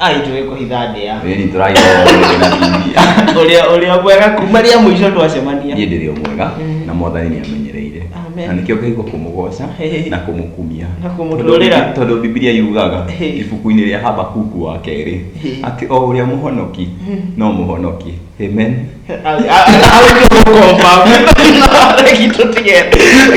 ai tũĩ kũhitha ndĩa Ĩni tũragĩkorwo rĩngĩ na TV. ũrĩa ũrĩa mwega kuma rĩa mũico twacemania Niĩ ndĩrĩ o mwega Mm. na mwathani nĩ amenyereire. Amen. Na nĩkĩo ngaigua kũmũgoca Hey. na kũmũkumia. Na kũmũtũrĩra. Tondũ- Tondũ Bibilia yugaga Hey. ibuku-inĩ rĩa Habakuku wa kerĩ Hey. atĩ o ũrĩa mũhonoki no mũhonoki. Amen.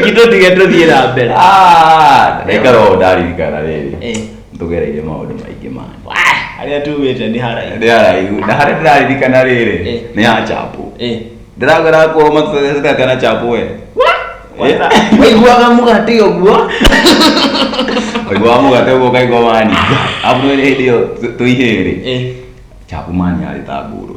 gitũtige tũthiĩ na mbere Ah, ndaikara o ndaririkana rĩrĩ. Eh. ndũgereire maũndũ maingĩ mani harĩa tumĩte nĩ haraihu ndĩ haraihu na harĩa ndĩraririkana rĩrĩ Eh. nĩ ya chapo Eh, ndĩragera kuo matũtheceka kana chapo we wata- waiguaga mũgate ũguo waiguaga mũgate ũguo kaigua mani abu nĩ hĩndĩ ĩyo tũihĩrĩ Eh, chapo mani arĩ ta ngũrũ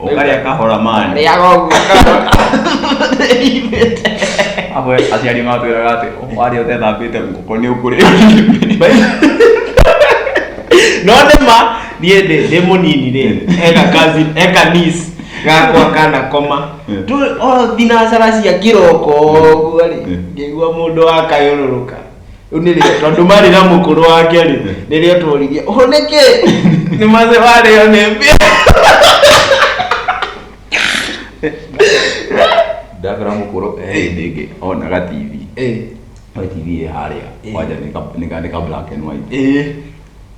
ũkarĩa kahora mani rĩaga ũguo amwe aciari matwĩraga atĩ warĩa ũtethambĩte ngũkũ nĩ ũkũrĩa no nĩma niĩ ndĩ ndĩ mũnini rĩ eka kazi eka nis gakwa kana koma Yeah. tu o thinacara cia kĩroko ũguo rĩ Yeah. ngĩigua mũndũ akayũrũrũka rĩu nĩ rĩo tondũ marĩ na mũkũrũ wake rĩ nĩ rĩo tworirie ũhoneke nĩ maze warĩo nĩ mbĩa ndabera mũkũrũ eh ndĩngĩ onaga tv Eh, we tv ĩ harĩa Eh. kwanja nĩ ka- nĩ ka- nĩ ka black and white eh.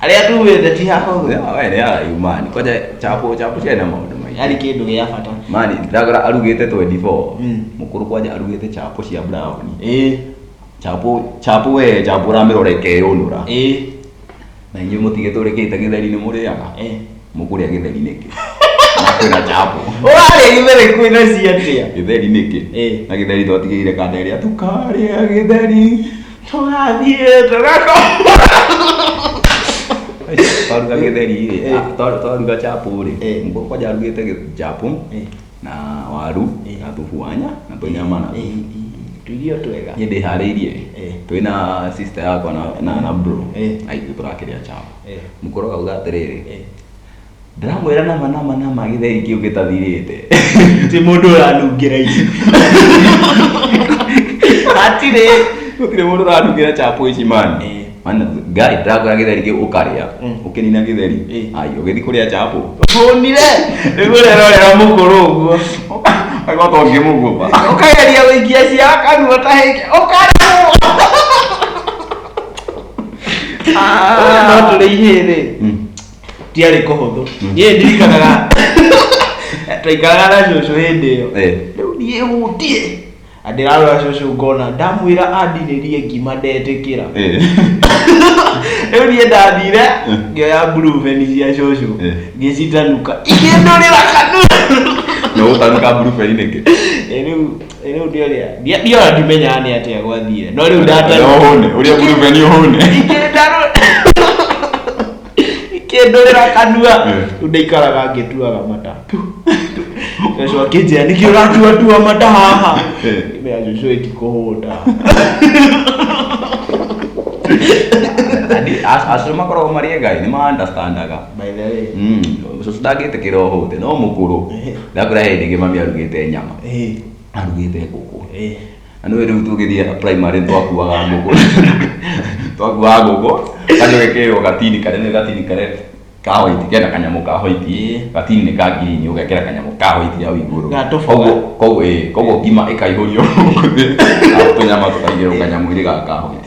Arĩa tuugĩte ti hahũthũ. Ya, we nĩ arayu mani kwaja chapo chapo ciana maũndũ maingĩ Yarĩ kĩndũ gĩa bata. mani thagora arugĩte 24 Mm. mũkũrũ kwaja arugĩte chapo cia brown Ĩĩ, chapo chapo we chapo ũramĩrora ĩkeyũnũra ĩĩ, na inyuĩ mũtigĩte ũrĩkĩte gĩtheri nĩ mũrĩaga ĩĩ. mũkũrĩa gĩtheri nĩkĩ na kwĩna chapo Ũrarĩa gĩtheri kwĩna cia atĩa? gĩtheri nĩkĩ Ĩĩ. na gĩtheri twatigĩire kanda ĩrĩa tukarĩa gĩtheri tũgathiĩ twaruga gĩtheri rĩ Eh. ah, twa- twaruga chapo rĩ Eh. mũkoko kwanja arugĩte gĩ- chapo Eh. na waru Eh. na thubu wa nya na tũnyama na thubu tuirio twega niĩ ndĩharĩirie Eh. twĩ na sister yakwa na- na na bro Eh. na ithuĩ tũrakĩrĩa chapo Eh. mũkoroga uga atĩrĩrĩ Eh. ndĩramwĩra nama nama nama gĩtheri kĩu gĩtathirĩte ti mũndũ ũranungĩra ici hatirĩ gũtirĩ mũndũ ũranungĩra chapo ici mani Eh. mana ngai ndĩrakora gĩtheri kĩu ũkarĩa Mm. ũkĩnina gĩtheri Eh. ai ũgĩthi kũrĩa chapo hũnire nĩguo rero rero mũkũrũ ũguo agwa to ngĩmũgũba ũkageria gũikia cia kanua ta hĩke ũkaremwo no tũrĩ ihĩrĩ Mm. ndiarĩ kũhũthũ niĩ ndirikanaga twaikaraga na cũcũ hĩndĩ ĩyo Eh. rĩu niĩ hutie na ndĩrarora cũcũ ngona ndamwĩra andinĩrie ngima ndetĩkĩra Eh. rĩu niĩ ndathire ngĩoya mburuveni cia cũcũ Eh. ngĩcitanuka ikĩndũrĩra kanua Na ũtaruka mburuberi nĩkĩ? Eh, rĩu eh, rĩu ndĩoria ndia- ndiona ndimenyaga nĩ atĩa gwathire no rĩu ndatanuka Ũrĩa ũhũne, ũrĩa mburuberi ũhũne. ikĩndarũra ikĩndũrĩra kanua rĩu ndaikaraga ngĩtuaga mata cũcũ akĩnjĩra nĩkĩ ũratuatua mata haha Eh. mea cũcũ ĩti kũhũta acũcũ makoragwo marĩ engai nĩ maandastandaga by the way cũcũ ndangĩtĩkĩra ũhũte no mũkũrũ Eh. ndakũra hĩndĩ ĩngĩ mami arugĩte nyama eh arugĩte ngũkũ eh Na nĩwe rĩu tũgĩthiaga primary twakuaga ngũkũ twakuaga ngũkũ kanyũ gekĩrwo gatini karĩa nĩ gatini karĩa ka white kena kanyamũ ka white Ĩĩ. gatini nĩ ka ngirini ũgekĩra kanyamũ ka white hau igũrũ Ga tũboga. Koguo- koguo ĩĩ, koguo ngima ĩkaihũrio gũkũ thĩ na tũnyama tũkaigĩrwo kanyamũ-inĩ gaka ka white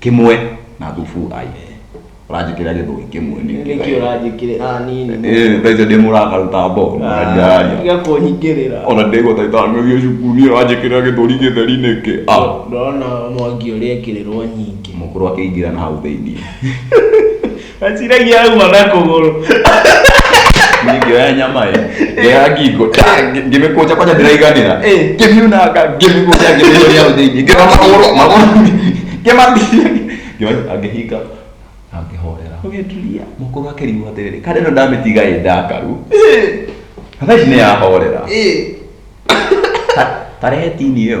kimwe na thubu ai uranjikira githoi kimwe nĩkĩ ũranjĩkĩrĩ ah nini eh taizo ndi murakaruta mbo ndari tiga kũnyingĩrĩra ona ndigwa taita ngithio cukuru ni uranjikira githori githeri niki ah ndona mwangi ũrĩa ekĩrĩrwo nyingĩ mukuru akiingira na hau thiini Aciragia auma na kũgũrũ. Ningĩoya nyama ĩ, ngĩoya ngingo, ta, ngĩ- ngĩmĩkũnja kwanja ndĩraiganĩra. Ĩ. Ngĩmiunanga, ngĩmĩkũnja, ngĩmĩonia hau thĩinĩ, ngĩoya magũrũ, magũrũ, ngĩmatiria, ngĩma- ngĩhinga, na ngĩhorera. Ũgĩtulia. Mũkũrũ akĩrigwo atĩrĩrĩ, kana ĩno ndamĩtiga ĩ ndakaru. Na thaa ici nĩyahorera. Ĩ. Ta- tarehe tini ĩyo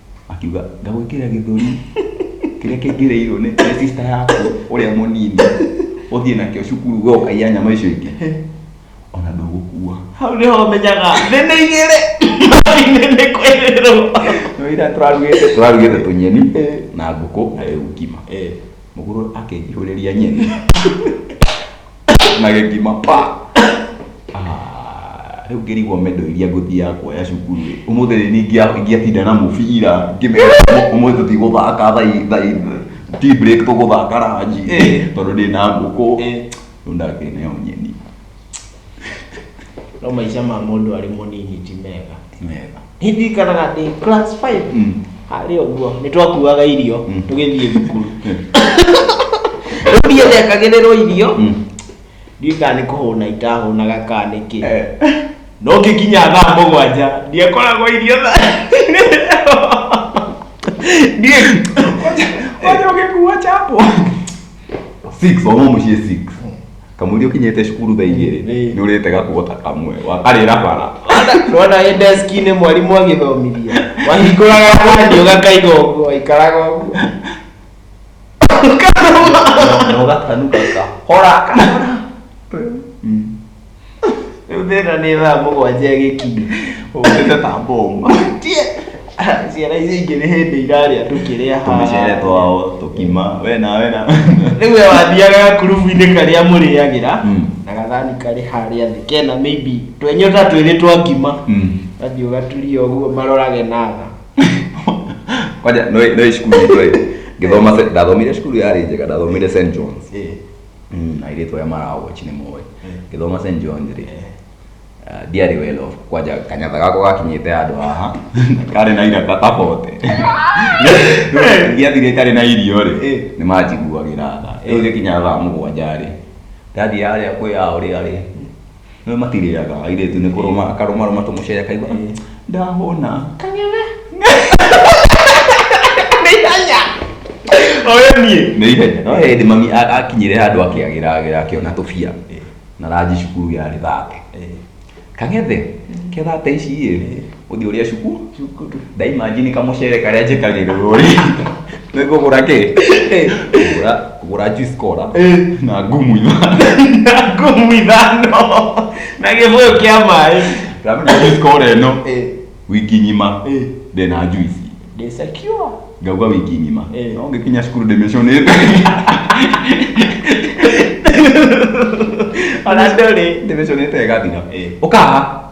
akiuga ngagwĩkĩra gĩthũri kĩrĩa kĩingĩrĩirwo nĩ nĩ sister yaku ũrĩa mũnini ũthiĩ nakĩo cukuru we ũkaiya nyama icio ingĩ He, ona ndũgũkua hau nĩho menyaga thĩ nĩ igĩrĩ thĩ nĩ kwĩrĩrwo nĩ ira tũrarugĩte tũrarugĩte tũnyeni na ngũkũ na rĩu ngima mũgũrũ akĩnjihũrĩria nyeni na gĩthima pa Ah, rĩu ngĩrigwo mendo iria ngũthiaga kuoya cukuru rĩ ũmũthĩ rĩ niĩ ingĩa- ingĩatinda na mũbira ngĩmera ũmũthĩ tũthiĩ gũthaka thaa i- thaa i- tea break tũgũthaka ranji Eh. tondũ ndĩ na ngũkũ Eh. rĩu ndakĩneo nyeni no maica ma mũndũ arĩ mũnini ti mega mega ndirikanaga ndĩ class 5 Mm. harĩ ũguo nĩ twakuaga irio Mm. tũgĩthiĩ thukuru Eh. rĩu ndiĩ ndekagĩrĩrwo irio Mm. ndiĩ kana nĩ kũhũna itahũnaga kana nĩkĩ Eh. no ngĩkinya thaa mũgwanja ndiakoragwo irio ndiĩ Wacha ungekuwa chapo. Six, wamo mushie six. kamũiria ũkinyĩte cukuru thaa igĩrĩ Ĩĩ. nĩ ũrĩte gakuota kamwe wakarĩra bara Nona ĩ deski-inĩ mwarimũ agĩthomithia. Wahingũraga mwanya ũgakaiga ũguo, waikaraga ũguo. na ũgatanuka kahora kahora Rĩu thĩna nĩ thaa mũgwanja ĩgĩkinya ũkĩte ta mbomu. Ciana icio ingĩ nĩ hĩndĩ irarĩa tũkĩrĩa Tũmĩcere haha. twao tũkima we na we na. Rĩu we wathiaga gakurubu-inĩ karĩa mũrĩagĩra Mm. na gathani karĩ harĩa thĩ kena maybe twenyota twĩrĩ twa ngima Mm. gathiĩ ũgaturia ũguo marorage na tha. Kwanja no no cukuru itũ ĩ. Ngĩthoma se- ndathomire cukuru yarĩ njega ndathomire St John's. Eh. mm, airĩtu aya marawochi nĩ moĩ ngĩthoma st johns rĩ ah, ndiarĩ welo kwanja kanyatha gako gakinyĩte handũ haha karĩ na iraka tabote ndiathire itarĩ na irio rĩ nĩ manjiguagĩra tha rĩu gĩkinya thaa mũgwanja rĩ ndathiĩ harĩa kwĩ ao rĩarĩ Nĩ matirĩaga airĩtu nĩ kũrũma akarũma rũma tũmũcere akaigua ndahũna. Kang'ethe. Nĩ ihenya. Oyo niĩ. Nĩ ihenya. No hĩndĩ mami a- akinyire handũ akĩagĩra agĩra akĩona tũbia. Na ranji cukuru yarĩ thate. Kang'ethe, ke thate ici ĩ. uthi uria cuku Cukuru. ndaimajini kamucere karia njikagirira uri nikugura ki Ngũra- ngũra juice cola na ngumu ithano Ngumu ithano. Na gĩbũyũ kĩa maĩ. ramenya juice cola ĩno Eh. wiki ng'ima Eh. ndĩna juice Ndĩ secure. ngauga wiki ng'ima Eh. no ngĩkinya cukuru ndĩmĩcũnĩte Ona ndũrĩ. ndĩmĩcũnĩte ĩgathira Eh. ũkaha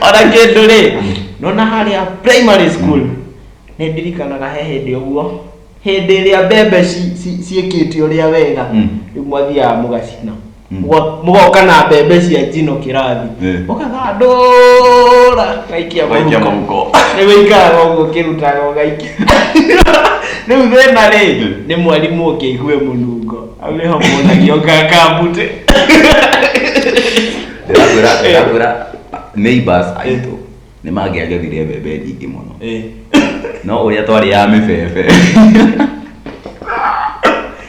ona kĩndũ rĩ nona harĩa primary school nĩ ndirikanaga he hĩndĩ ũguo hĩndĩ ĩrĩa mbembe ci- ci- ciĩkĩte ũrĩa wega Mm. rĩu mwathiaga mũgacina Mm. Mũgo- mũgoka na mbembe cia njino kĩrathi Eh. ũgathandũra gaikia Gaikia mũhuko. mũhuko. nĩ wĩikaraga ũguo ũkĩrutaga ũgaikia rĩu thĩna rĩ nĩ mwarimũ ũngĩigue mũnungo Aleho mũnagio ngakambute. ndĩrakwĩra ndĩrakwĩra neighbors aitũ nĩ mangĩagethire mbembe nyingĩ mũno Eh. no ũrĩa twarĩ ya mĩbebe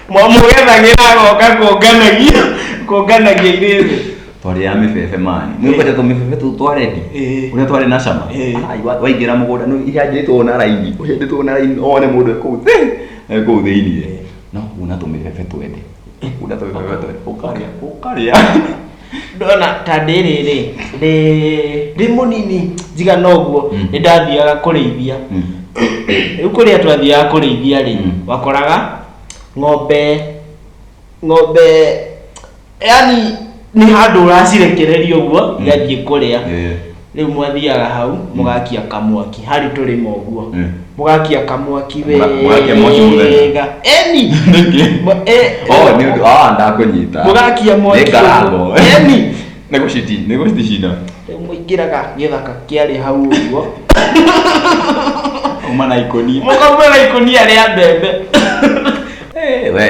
Mwamũgethagĩra agoka kũnganagia kũnganagia irĩrĩ. twarĩ ya mĩbebe mani nĩũkwete tũmĩbebe tũu twarendi Eh. ũrĩa twarĩ na cama Eh. Ai, wa- waingĩra mũgũnda nĩ ihandĩtwo na raini ũhandĩtwo na raini one mũndũ ekũu thĩ ekũu thĩiniĩ no kuna tũmĩbebe twende kuna tũmĩbebe twende ũkarĩa ũkarĩa ndona ta ndĩrĩ rĩ ndĩ ndĩ mũnini njiga noguo Mm. nĩ ndathiaga kũrĩithia Mm. rĩu kũrĩa twathiaga kũrĩithia rĩ Mm. wakoraga ng'ombe ng'ombe yani nĩ handũ ũracirekereria ũguo igathiĩ kũrĩa Eh, rĩu mwathiaga hau mũgakia kamwaki harĩ tũrĩma ũguo Mm. mũgakia kamwaki Mũga- mũgakia mwaki mũthenya. wega eni nĩkĩ? Mũ- eh, Oh, nĩ ũndũ- ah, ndakũnyita. mũgakia mwaki Nĩ ngarango. ũguo. eni Nĩ gũciti- nĩ gũcicina. rĩu mũingĩraga gĩthaka kĩarĩ hau ũguo Uma na ikũnia. mũkauma na ikũnia rĩa mbembe Eh, we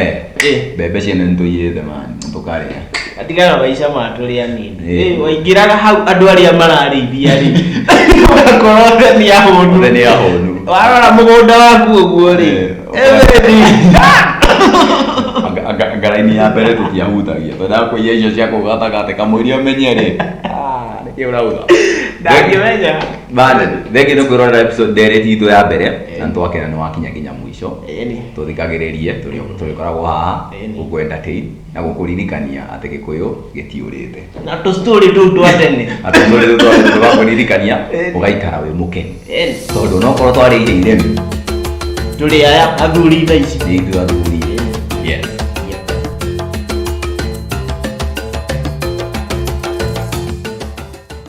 Eh. mbembe ciene nĩ tũiyĩte mani tũkarĩa atigara maica matũrĩ anini Eh. Eh, waingĩraga hau andũ arĩa mararĩithia rĩ ũgakorwo theni ya hũnu mũthenya ya hũnu warora mũgũnda waku ũguo rĩ Eh. everything Anga- anga- ngaraini ya mbere tũtiahutagia twendaga kũiya icio cia kũu gatagatĩ kamũiria ũmenye rĩ Ah, nĩkĩ ũrauga ndangĩmenya bane thengĩ nĩ kwĩrorera episode ndereti itũ ya mbere na nĩ twakena nĩ wakinya kinya mũico Mwakicho, tũthikagĩrĩrie tũrĩkoragwo haha gũkwenda tei na gũkũririkania atĩ gĩkũyũ gĩtiũrĩte. Na tũstory tũu twa tene. Na tũstory tũu twa tene tũgakũririkania ũgaikara wĩ mũkenu. Tondũ onokorwo twarĩire iremi. Tũrĩ aya athuri thaa ici. Nĩ ithuĩ athuri. Yes.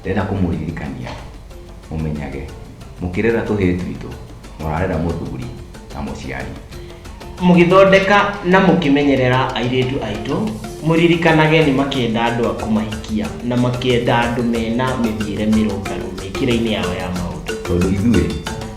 ndĩrenda kũmũririkania mũmenyage mũkĩrera tũhĩĩ twitũ mũrarera mũthuri na mũciari mũgĩthondeka na mũkĩmenyerera airĩtu aitũ mũririkanage nĩ makĩenda andũ a kũmahikia na makĩenda andũ mena mĩthiĩre mĩrũngarũ mĩkĩre-inĩ yao ya maũndũ tondũ ithuĩ